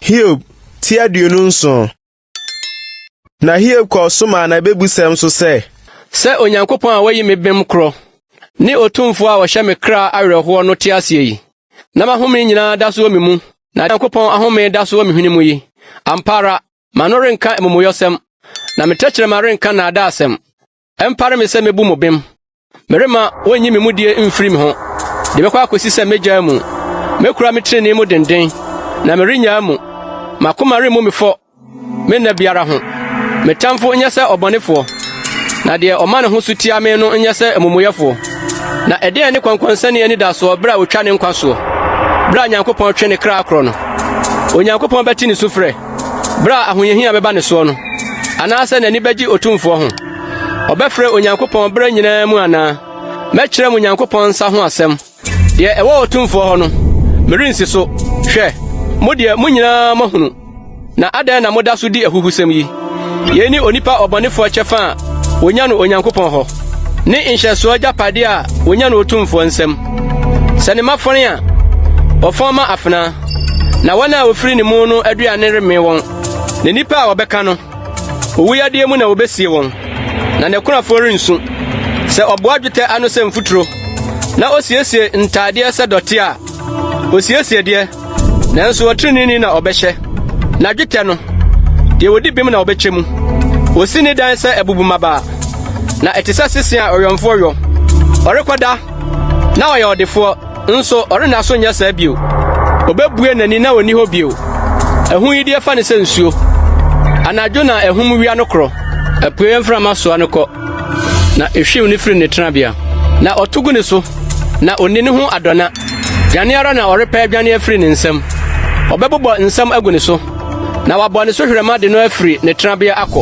Hiob ti aduonu nson. Na Hiob kɔɔ so maa n'abebusɛm so sɛ. Sɛ Onyankopɔn a wayi me bem korɔ ne Otumfo a ɔhyɛ me kra awerɛhoɔ no te aseɛ yi, na m'ahome nyinaa da so wɔ me mu, na Onyankopɔn ahome da so wɔ me hwene mu yi, ampa ara, m'ano renka amumuyɔsɛm, na me tɛkyerɛma renka nnaadaasɛm. Ɛmpare me sɛ mɛbu mo bem. Meremma wɔnyi me mudie mfiri me ho de bɛkɔ akɔsi sɛ mɛgyaa mu. Mɛkura me tenenee mu denden, na merennyaa mu. M'akoma remmu me fɔ me nna biara ho. Me tamfo nyɛ sɛ ɔbɔnefoɔ, na deɛ ɔma ne ho so tia me no nyɛ sɛ amumuyɛfoɔ. Na ɛdeɛn ne kɔnkɔnsani anidasoɔ berɛ a ɔtwa ne nkwa soɔ? Berɛ a Nyankopɔn twe ne kra korɔ no, Onyankopɔn bɛte ne sufrɛ. Bere a ahohiahia bɛba ne soɔ no, anaasɛ n'ani bɛgye Otumfoɔ ho? Ɔbɛfrɛ Onyankopɔn bere nyinaa mu anaa? Mɛkyerɛ mo Onyankopɔn nsa ho asɛm. Deɛ ɛwɔ Otumfoɔ hɔ no, merensi so. Hwɛ, mo deɛ, mo nyinaa moahunu. Na adɛn na moda so di ahuhusɛm yi? Yei ne onipa ɔbɔnefoɔ kyɛfa a wɔnya no Onyankopɔn hɔ. Ne nhyɛsoɔ agyapadeɛ a wɔnya no otumfoɔ nsam. Sɛ ne mma fɔn a, wɔfɔn ma afena, na wɔn a wɔfiri ne mu no aduane remmee wɔn. Na nnipa a wɔbɛka no, owu yadeɛ mu na wɔbɛsie wɔn, na n'akunafoɔ rensu. Sɛ ɔboa dwetɛ ano sɛ mfuturo, na osiesie ntaadeɛ sɛ dɔte a, osiesie deɛ Nanso ɔtreneeni na ɔbɛhyɛ, na dwetɛ no, deɛ wɔdi bem na ɔbɛkyɛ mu. Wɔsi ne dan sɛ abubu mmabaa, na ɛte sɛ sese a ɔwɛmfoɔ wɔ. Ɔrekɔda, na ɔyɛ ɔdefoɔ, nso ɔrenna so nyɛ saa bio. Ɔbɛbue n'ani na ɔnni hɔ bio. Ɛho yi deɛ fa no sɛ nsuo. Anadwo na ahum wia no korɔ. Apueeɛ mframa soa no kɔ, na ɛhwiw no firi ne tenabea. Na ɔto gu ne so, na ɔnni ne ho adɔna. Dwane ara na ɔrepɛ adwane afiri ne nsam. Ɔbɛbobɔ nsam agu ne so, na wabɔ ne so hwerɛma de no afiri ne tenabea akɔ.